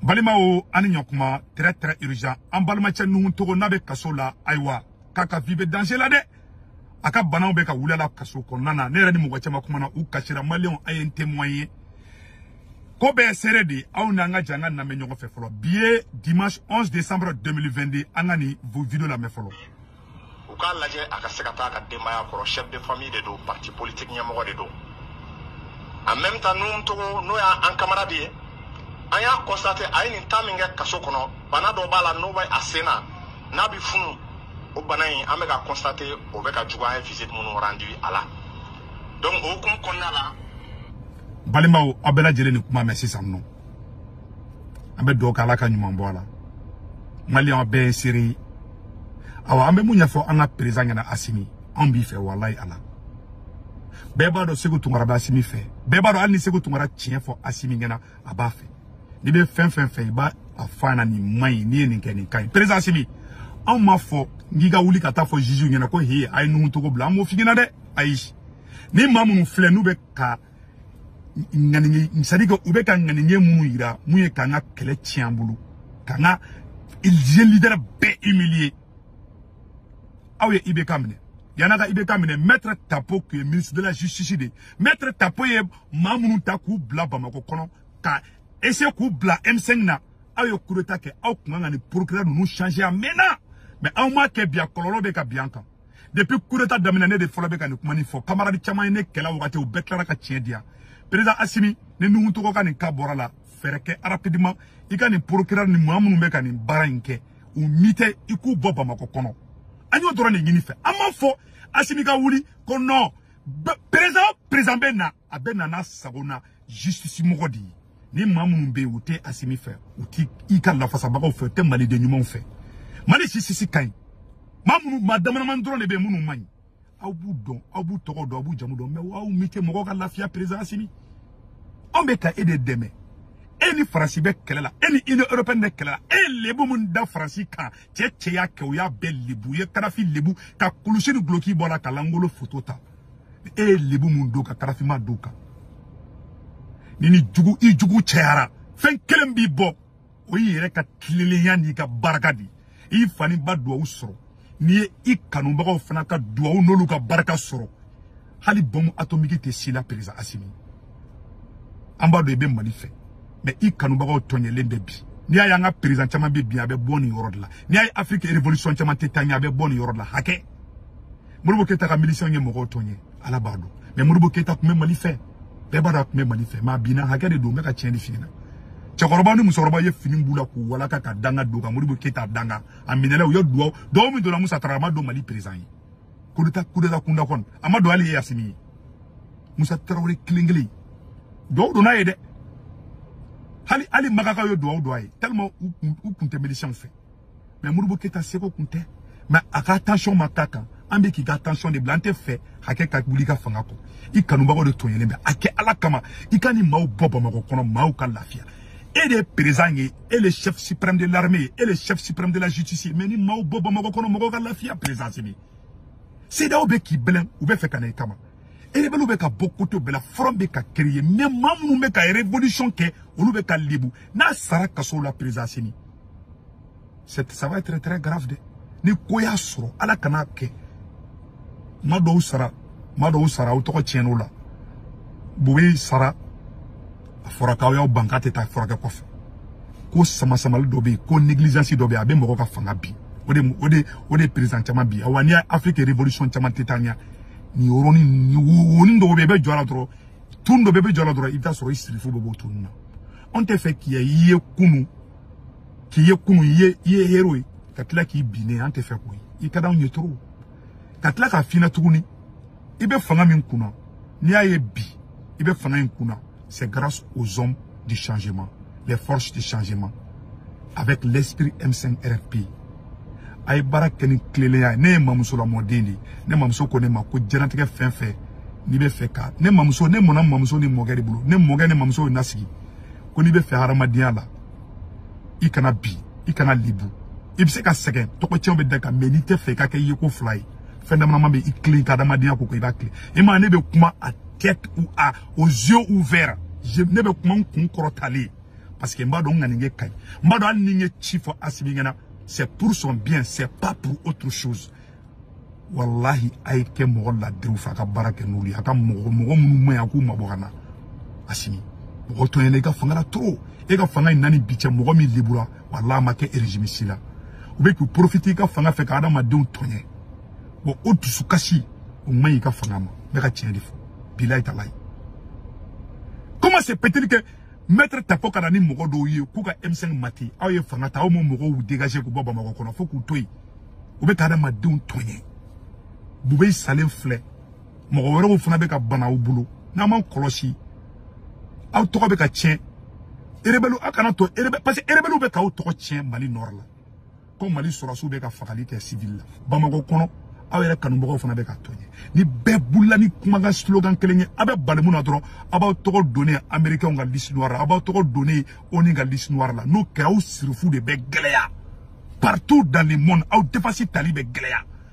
balimaw an ni ɲɔkuma très très urgent an balimacɛ nuhun togo n'a bɛ kaso la ayiwa k'a ka vie bɛ danger la dɛ a ka bana bɛ ka wuli a la kaso kɔnɔna na ne yɛrɛ ni mɔgɔ caman kumana u kasira maliyɛnw a ye n témoin ye ko bɛɛ seere de ye aw n'an ka jɛ an k'a lamɛn ɲɔgɔn fɛ fɔlɔ bi ye dimanche 11 décembre 2022 an ka nin video lamɛn fɔlɔ u k'a lajɛ a ka se ka taa a ka denbaya kɔrɔ chef de famille de don parti politique ɲɛmɔgɔ de don en même temps nuhun togo n'o y'an camarade ye an y'a constater a ye nin temps min kɛ kaso kɔnɔ bana dɔ b'a la n'o bɛ a sen na n'a bɛ funu o bana in an bɛ ka constater o bɛ ka juguya an ye visite minnu rendu a la donc o hukumu kɔnɔna la balimaw aw bɛɛ lajɛlen nin kuma mɛn sisan nɔ an bɛ dugawu kɛ ala ka ɲuman bɔ a la maliyɛn bɛɛ ye seere ye awa an bɛ mun ɲɛfɔ an ka perezan ɲɛna asimi anw b'i fɛ walayi ala bɛɛ b'a dɔn seku tunkara bɛ asimi fɛ bɛɛ b'a dɔn hali ni seku tunkara tiɲɛ fɔ asimi ɲɛna a b'a fɛ n'i bɛ fɛn fɛn fɛ i b'a fɔ a ɲɛna nin man ɲi n'i ye nin kɛ nin ka ɲi perezan asimi anw m'a fɔ k'i ka wuli ka taa a fɔ juges ɲɛna ko he a ye nuhu togo bila an m'o f'i ɲɛna dɛ ayi ni maa minnu filɛ n'u bɛ ka ŋaniya c'est à dire que u bɛ ka ŋaniya minnu yira mun ye k'an ka kɛlɛ tiɲɛ an bolo k'an ka leader bɛɛ humilier aw ye IBK minɛ yani aw ka IBK minɛ maître Tapo tun ye ministre de la justice de ye maître Tapo ye maa minnu ta k'u bila Bamakɔ kɔnɔ ka essayer k'u bila M5 na aw ye coup d'état kɛ aw tun kan ka nin procureur ninnu changer a mɛnna mais aw m'a kɛ bi a kɔlɔlɔ bɛ ka bin an kan depuis coup d'état daminɛ ne de fɔlɔ bɛ ka nin kuma nin fɔ kamaradi caman ye ne kɛlɛ a wagati u bɛɛ tilara ka tiɲɛ diya président asimi ni nuhun togo ka nin ka bɔra a la fɛɛrɛ kɛ rapidement i ka nin procureur ni maa minnu bɛ ka nin baara in kɛ u muter i k'u bɔ bamakɔ kɔnɔ an y'o dɔrɔn de ɲini i fɛ an m'a fɔ asimi ka wuli ko non président président bɛ na a bɛna na a sago na justice mɔgɔ de ye ni maa minnu bɛ yen u tɛ asimi fɛ u tɛ i ka lafasabagaw fɛ u tɛ maliden ɲumanw fɛ mali justice ka ɲi maa minnu maa damadamani dɔrɔn de bɛ yen minnu man ɲi aw b'u dɔn aw b'u tɔgɔ dɔn aw b'u jamu dɔn mɛ aw u muter mɔgɔw ka lafiya perezan asimi anw bɛ ka e de dɛmɛ e ni faransi bɛ kɛlɛ la e ni union européenne bɛ kɛlɛ la e ye lebu min da faransi kan cɛ o cɛ y'a kɛ u y'a bɛɛ lebu u ye kadafi lebu ka kulusi ni duloki bɔ a la k'a lankolon foto ta e ye lebu min don u kan kadafi m'a don u kan n'i ni jugu i jugu cayara fɛn kelen b'i bɔ o y'i yɛrɛ ka tilennenya n'i ka barika de ye i fa n'i ba duwawu sɔrɔ n'i ye i kanubagaw fana ka duwawu n'olu ka barika sɔrɔ hali bɔmu atomiki tɛ se i la perezan asimi an b'a dɔn i bɛ mali fɛ mɛ i kanubagaw tɔɲɛlen bɛ bi n'i y'a ye an ka perezan caman bɛ bin a bɛ bɔ nin yɔrɔ de la n'i y'a ye afiriki revolisiyɔn caman tɛ taa ɲɛ a bɛ bɔ nin yɔrɔ de la hakɛ moribo keyita ka milisiyɛnw ye mɔgɔw tɔɲɛ ala b'a dɔn mɛ moribo keyita tun bɛ mali fɛ bɛɛ b'a dɔn a tun bɛ mali fɛ mɛ a binna hakɛ de don n bɛ ka tiɲɛ de f'i ɲɛna cɛkɔrɔba ni musokɔrɔba ye fini b'u la k'u walaka ka danga don ka moribo keyita danga a minɛla u ye duwawu don min donna musa tara a ma don mali perezan ye kudeta kudeta kunda kɔni a ma don hali e asimi ye musa tarawele kelen kelen duwawu donn'a ye dɛ hali hali makakaw ye duwawu don a ye tellement u kun u kun tɛ milisiyɛnw fɛ mɛ moribo keyita sago kun tɛ mɛ a ka atansiyɔn ma k'a kan an bɛ k'i ka atansiyɔn de bila an tɛ fɛ hakɛ ka wuli i ka fanga kɔ i kanubagaw de tɔɲɛlen bɛ a kɛ ala kama i ka nin maaw bɔ bamakɔ kɔnɔ maaw ka lafiya e de ye perezan ye e le chef suprême de l'armée ye e le chef suprême de la justice ye mɛ nin maaw bɔ bamakɔ kɔnɔ mɔgɔw ka lafiya perezan asimi sedeyawo bɛ k'i bɛlɛn u bɛ fɛ ka na i kama erebɛliw bɛ ka bɔ kote bɛɛ la fɔrɔn bɛ ka kereye mɛ maa minnu bɛ ka revolution kɛ olu bɛ ka lebu n'a sara kaso la président Asimi ça va être très grave dɛ ni ko y'a sɔrɔ ala kan'a kɛ maa dɔw sara maa dɔw sara aw tɔgɔ tiɲɛn'o la bube sara a fɔra k'aw y'aw ban k'a tɛ taa furakɛ kɔfɛ ko samasamali dɔ bɛ yen ko negligence dɔ bɛ yen a bɛ mɔgɔ ka fanga bin o de o de o de président caman bin awa n'i y'a Afrique révolution caman tɛ taa ɲɛ nin yɔrɔnin ni wonin dɔw bɛ i bɛ jɔ a la dɔrɔn tun dɔ bɛ i bɛ jɔ a la dɔrɔn i bɛ taa sɔrɔ i sirifu bɛ bɔ tun na anw tɛ fɛ k'i i ye kunun k'i ye kunun i ye i ye hero ye ka tila k'i binnen an tɛ fɛ k'o ye i ka d'anw ye trop ka tila k'a f'i ɲɛna tuguni i bɛ fanga min kunna n'i y'a ye bi i bɛ fanga in kunna C'est grâce aux hommes du changement, les forces du changement, avec l'esprit M5 RFP. a ye baara kɛ ni tilennenya ye ne ye mamuso lamɔden de ye ne mamuso ko ne ma ko jɛnatigɛ fɛn fɛn n'i bɛ fɛ ka ne mamuso ne mɔna mamuso ni mɔkɛ de bolo ne mɔkɛ ni mamuso ye n nasigi ko n'i bɛ fɛ hadamadenya la i kana bin i kana lebu i bɛ se ka sɛgɛn tɔgɔ tiɲɛ bɛ da i kan mɛ n'i tɛ fɛ i ka kɛ i ye ko fila ye fɛn damadama bɛ i tilen ka hadamadenya ko ko i b'a tilen i ma ne bɛ kuma à tête à aux yeux ouverts je ne bɛ kuma n kun kɔrɔtalen parce que n b'a dɔn n ŋaniya ka ɲi n b'a dɔn hali ni n ye ci fɔ Asimi ɲɛna c'est pour son bien c'est pas pour autre chose walahi a ye kɛ mɔgɔ ladiriw fɛ a ka baara kɛ n'olu ye a ka mɔgɔ mɔgɔ minnu man ɲi a k'u mabɔ ka na Asimi mɔgɔ tɔɲɛna i ka fanga la trop e ka fanga in na ni bi cɛ mɔgɔ min lebura walahi a ma kɛ régime si la u bɛ k'u profiter i ka fanga fɛ ka adamadenw tɔɲɛ bon o dusukasi o man ɲi i ka fanga ma n bɛ ka tiɲɛ de fɔ bilayi talayi comment se peut-il que maître tapo ka na ni mɔgɔ dɔw ye k'u ka m5 mate aw ye fanga ta aw m'o mɔgɔw dégager k'u bɔ bamakɔ kɔnɔ fo k'u to yen u bɛ ka adamadenw tɔɲɛ bube salen filɛ mɔgɔ wɛrɛw fana bɛ ka bana aw bolo n'an m'an kɔlɔsi aw tɔgɔ bɛ ka tiɲɛ erebɛliw aw kan'a to erebɛ parce que erebɛliw bɛ k'aw tɔgɔ tiɲɛ mali nɔrɔ la ko mali sɔrɔsiw bɛ ka fagali kɛ sivili la bamakɔ kɔnɔ aw yɛrɛ kanubagaw fana bɛ k'aw to yen ni bɛɛ bolila ni kumakan slogan kelen ye aw bɛ bali mun na dɔrɔn a b'aw tɔgɔ donnen amerikɛnw ka liste noire la a b'aw tɔgɔ donnen ONU ka liste noire la n'o kɛra aw sirifu de bɛ gɛlɛya partout dans le monde aw défense tali bɛ gɛlɛya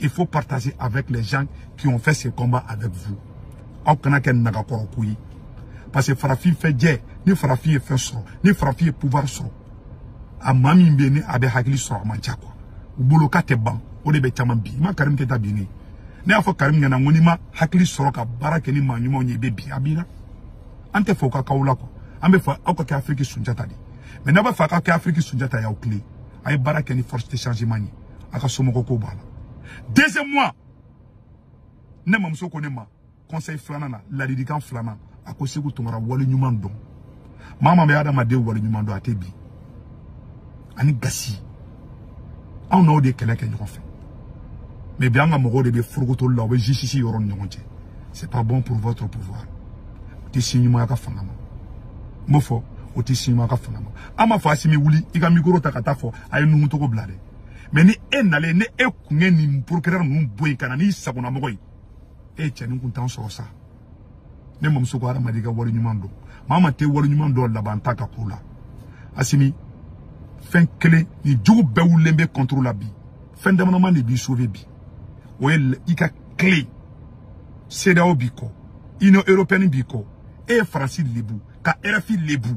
il faut partager avec les gens qui ont fait ce combat avec vous aw kana kɛ nagakɔrɔko ye parce que farafin fɛ jɛ ni farafin ye fɛn sɔrɔ ni farafin ye pouvoir sɔrɔ a maa min bɛ yen ni a bɛ hakili sɔrɔ a man ca quoi u bolo ka tɛ ban o de bɛ caman bin i ma karim keyita binnen ye ne y'a fɔ karim ɲɛna n ko n'i ma hakili sɔrɔ ka baara kɛ ni maa ɲumanw ye i bɛ bin a binna an t'a fɛ o ka k'aw la quoi an b'a fɛ aw ka kɛ afiriki sunjata de ye mais n'aw b'a fɛ aw ka kɛ afiriki sunjata y'aw tilen aw ye baara kɛ ni force de changement ye a ka somɔgɔ ko b'a la deuxièmement ne mamuso ko ne ma conseil filanan na ladilikan filanan a ko seku tunkara wale ɲuman dɔn maa maa bɛ adamaden wale ɲuman dɔn a tɛ bin ani gasi anw n'aw de kɛlɛ kɛ ɲɔgɔn fɛ mais bi an ka mɔgɔw de bɛ forokotoli la u bɛ justice yɔrɔ ni ɲɔgɔn cɛ c'est pas bon pour votre pouvoir o tɛ signe ɲuman y'aw ka fanga ma n b'o fɔ o tɛ signe ɲuman y'aw ka fanga ma an m'a fɔ asimi wuli i ka mikoro ta ka taa fɔ a ye nuhun togo bila dɛ mais ni e nalen ni e kun ye nin procureur ninnu bɔ yen ka na n'i sagonamɔgɔ ye e ye cɛnin kuntan sɔrɔ sa ne mamuso ko hadamaden ka wale ɲuman dɔn maa maa tɛ wale ɲuman dɔn laban t'a ka ko la asimi fɛn kelen nin jugu bɛɛ wulilen b'i contre la bi fɛn damadama de b'i sauver bi o ye i ka tilen CEDEAO b'i kɔ union européenne b'i kɔ e ye faransi lebu ka rfi lebu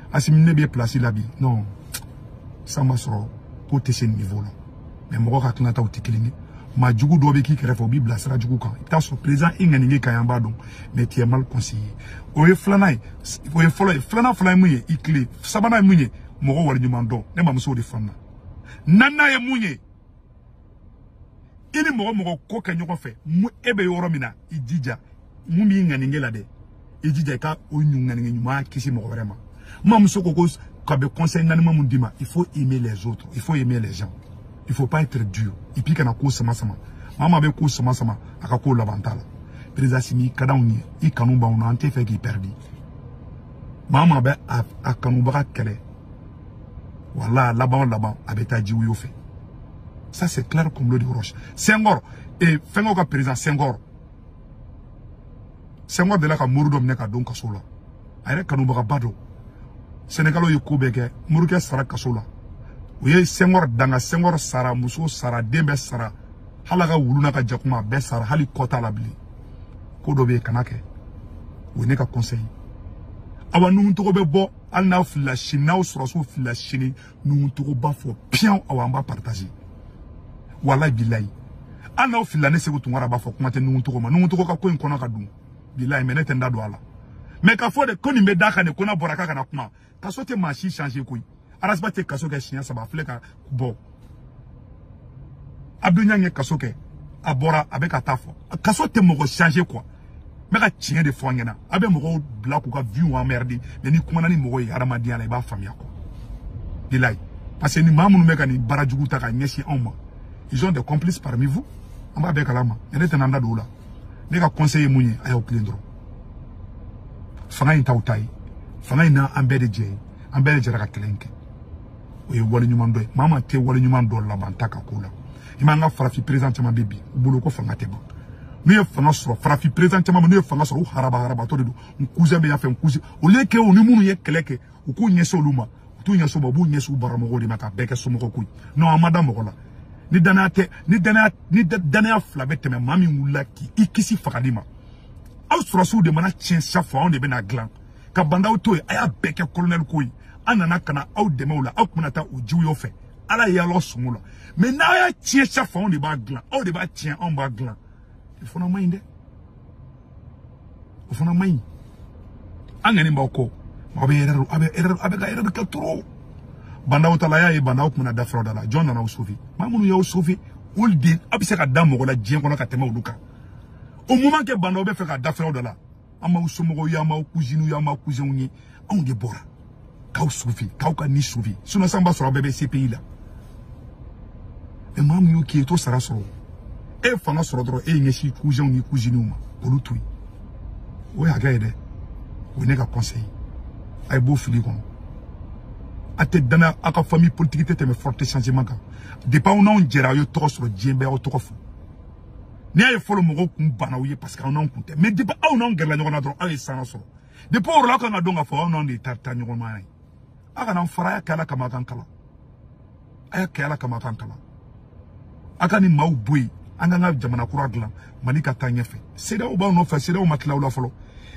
asimi ne b'i place la bi non san ma sɔrɔ ko tɛ se niveau la mais mɔgɔ ka tilataw tɛ kelen ye maa jugu dɔ bɛ k'i kɛrɛfɛ o b'i bila sira jugu kan i bɛ taa sɔrɔ président i ŋaniya ka ɲi an b'a dɔn mais tu es mal conseillé o ye filanan ye o ye fɔlɔ ye filanan fana ye mun ye i tilen sabanan ye mun ye mɔgɔ waleɲuman dɔn ne mamuso o de fana naaninan ye mun ye i ni mɔgɔ mɔgɔ ko kɛ ɲɔgɔn fɛ mu e bɛ yɔrɔ min na i jija min b'i ŋaniya la dɛ i jija i ka o ŋaniya ɲuman ka se mɔgɔ wɛrɛ ma n mamuso ko ko k'a bɛ conseil naaninan min d'i ma il faut aimer les autres il faut aimer les gens il faut pas être dur et puis kana ko sama sama maa maa bɛ ko sama sama a ka ko laban t'a la président asimi ka di anw ye i kanu b'anw na an t'a fɛ k'i pɛridi maa maa bɛ a kanubaga kɛlɛ wala laban o laban a bɛ taa ji woyo fɛ ça c'est clair comme l'eau de roche Senghor et fɛnkɛw ka président Senghor Senghor delila ka mori dɔ minɛ ka don kaso la a yɛrɛ kanubagaba don Sénégalais ye ko bɛɛ kɛ morikɛ sara kaso la u ye Senghor danga Senghor sara muso sara den bɛɛ sara hali a ka wulu n'a ka jakuma a bɛɛ sara hali kɔ t'a la bilen ko dɔ bɛ yen kan'a kɛ o ye ne ka conseil awa nuhun togo bɛ bɔ hali n'aw filila sini n'aw sɔrɔsiw filila sini Nouhoum Togo b'a fɔ piyan awa an b'a partager walayi bilayi hali n'aw filila ne Sékou Tounkara b'a fɔ kuma tɛ Nouhoum Togo ma Nouhoum Togo ka ko in kɔnɔ ka dun bilayi mais ne tɛ n da don a la mais k'a fɔ de ko nin bɛ da kan de ko n'a bɔra k'a kana kuma kaso tɛ maa si changer quoi Ras Bath ye kaso kɛ siɲɛ saba a filɛ ka bɔ Abdou Niang ye kaso kɛ a bɔra a bɛ ka t'a fɔ kaso tɛ mɔgɔ changer quoi n bɛ ka tiɲɛ de fɔ an ɲɛna a bɛ mɔgɔw bila k'u ka vie emmerder mais n'i kumana ni mɔgɔ ye hadamadenya la i b'a faamuya quoi bilayi parce que ni maa minnu bɛ ka nin baara jugu ta ka ɲɛsin anw ma ils ont des complices parmi vous an b'a bɛɛ kalama mais ne tɛna n da don o la ne ka conseil ye mun ye a y'aw tilen dɔrɔn fanga in t'aw ta ye fanga in na an bɛɛ de jɛ ye an bɛɛ de jɛra ka kɛlɛ in kɛ o ye waleɲumandɔn ye maa maa tɛ wale ɲuman dɔn laban t'a ka ko la i m'an ka farafin perezan caman bɛ bi u bolo ko fanga tɛ ban n'u ye fanga sɔrɔ farafin perezan caman bɛ n'u ye fanga sɔrɔ u haraba harabatɔ de don n kuzɛn bɛ yan fɛ n kuzi o le kɛ u ni minnu ye kɛlɛ kɛ u k'u ɲɛsin olu ma u t'u ɲɛsin ma u b'u ɲɛsin u baramɔgɔw de ma ka bɛɛ kɛ somɔgɔ ko ye non an ma da mɔgɔ la ni danaya tɛ ni danaya ni danaya fila bɛ tɛmɛ maa min wulila k'i kisi fagali ma aw sɔrɔsiw de mana tiɲɛ chaque fois anw de bɛna dilan ka Bah N'Daw to yen a y'a bɛɛ kɛ kolonɛli ko ye an nana ka na aw dɛmɛ o la aw tun bɛna taa o jiwuyɔ fɛ ala ye y'aw sungo la mais n'aw y'a tiɲɛ chaque fois anw de b'a dilan aw de b'a tiɲɛ anw b'a dilan o fana man ɲi dɛ o fana man ɲi an ŋani b'aw kɔ aw bɛ erreur aw bɛ erreur aw bɛ ka erreur kɛ trop Bah N'Daw ta la y'a ye Bah N'Daw tun bɛna da furaw da la jɔn nana aw sauver maa minnu y'aw sauver olu de aw bɛ se ka da mɔgɔ la diɲɛ kɔnɔ ka tɛmɛ olu kan au moment que Bah N'Daw bɛ fɛ ka da furaw da la an b'aw somɔgɔw ye an b'aw kuziniw ye an b'aw kuzɛnw ye anw de bɔra k'aw sauver k'aw ka ni sauver sinon san b'a sɔrɔ aw bɛɛ bɛ CPI la mais maa min y'o k'i ye t'o sara sɔrɔ e ye fanga sɔrɔ dɔrɔn e y'i ɲɛsin kuzɛnw ni kuziniw ma k'olu to yen o ye hakɛ ye dɛ o ye ne ka conseil a ye b'o fili kɔnɔ a tɛ dana aw ka famille politique tɛ tɛmɛ forces du changement kan depuis aw n'anw jɛra aw ye tɔgɔ sɔrɔ diɲɛ bɛɛ aw tɔgɔ fɔ n'i y'a ye fɔlɔ mɔgɔw kun banna aw ye parce que aw n'anw kun tɛ mais depuis aw n'anw gɛrɛla ɲɔgɔn na dɔrɔn aw ye sanga sɔrɔ depuis o yɔrɔ la aw kan ka dɔn k'a fɔ aw n'anw de ye taa taa ɲɔgɔn ma ye aw kana fara a y'a kɛ ala kama a kan kalan a y'a kɛ ala kama a kan kalan a ka nin maaw bɔ yen an k'an ka jamana kura dilan mali ka taa ɲɛfɛ CEDEAO b'aw nɔfɛ CEDEAO ma tila aw la fɔlɔ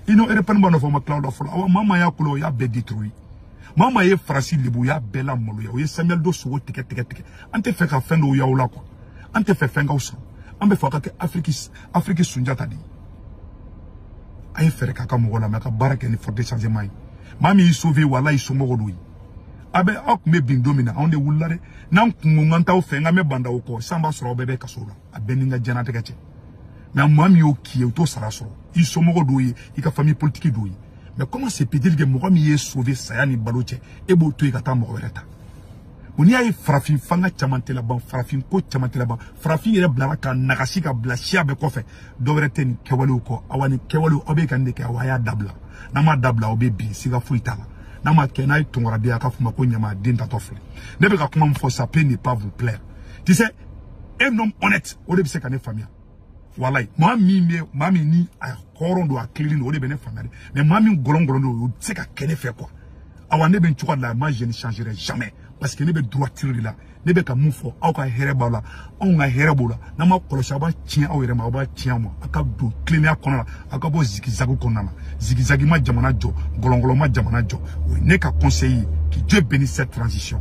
Union européenne b'aw nɔfɛ o ma tila aw la fɔlɔ awa maa maa y'a kulo o y'a bɛɛ détruit maa maa ye Faransi lebu o y'a bɛɛ lamaloya o ye Samuel Doe sogo tigɛ tigɛ tigɛ an tɛ fɛ ka fɛn dɔw y'aw la quoi an t'a fɛ fɛn k'aw sɔrɔ an b'a fɛ aw ka kɛ afiriki afiriki sunjata de ye a ye fɛɛrɛ kɛ ka mɔgɔw lamɛn ka baara kɛ ni forces du changement ye maa min y'i sauver walayi i somɔgɔ dɔ ye a bɛ aw tun bɛ bin don min na anw de wulila dɛ n'an tun ko n kan t'aw fɛ n kan bɛ ba ndaw kɔ san b'a sɔrɔ aw bɛɛ bɛ kaso la a bɛɛ ni n ka diɲɛnatigɛ cɛ mais maa min y'o k'i ye o t'o sara sɔrɔ i somɔgɔ dɔw ye i ka famille politique dɔw ye mais comment se peut-il que mɔgɔ min y'e sauver saya ni balo cɛ e b'o to yen ka taa mɔgɔ wɛrɛ ta ko n'i y'a ye farafin fanga caman tɛ laban farafin ko caman tɛ laban farafin yɛrɛ bilara ka nagasi ka bila siya bɛɛ kɔfɛ dɔwɛrɛ tɛ nin kɛwalew kɔ awa nin kɛwalew aw bɛ ka nin de kɛ awa a y'a dabila n'aw m'a dabila aw bɛ bin siga foyi t'a la n'a ma kɛ n'a ye tɔngɔraden a k'a f'u ma ko ɲama den tatɔ filɛ ne bɛ ka kuma min fɔ ça peut ne pas vous plaire tu sais un homme honnête o de bɛ se ka ne faamuya walayi maa min bɛ maa min ni a hɔrɔn don a tilennen don o de bɛ ne faamuya mais maa min gɔlɔngɔlɔn don o tɛ se ka kɛ ne fɛ quoi awa ne bɛ nin cogo de la moi je ne changerai jamais parce que ne bɛ droiture de la ne bɛ ka min fɔ aw ka hɛrɛ b'a la anw ka hɛrɛ b'o la n'aw m'a kɔlɔsi aw b'a tiɲɛ aw yɛrɛ ma aw b'a tiɲɛ aw ma aw ka don tilennenya kɔnɔ la aw ka bɔ zigizagi kɔnɔna na zigizagi ma jamana jɔ gɔlɔngɔlɔ ma jamana jɔ o ye ne ka conseil ye que Dieu bénisse cette transition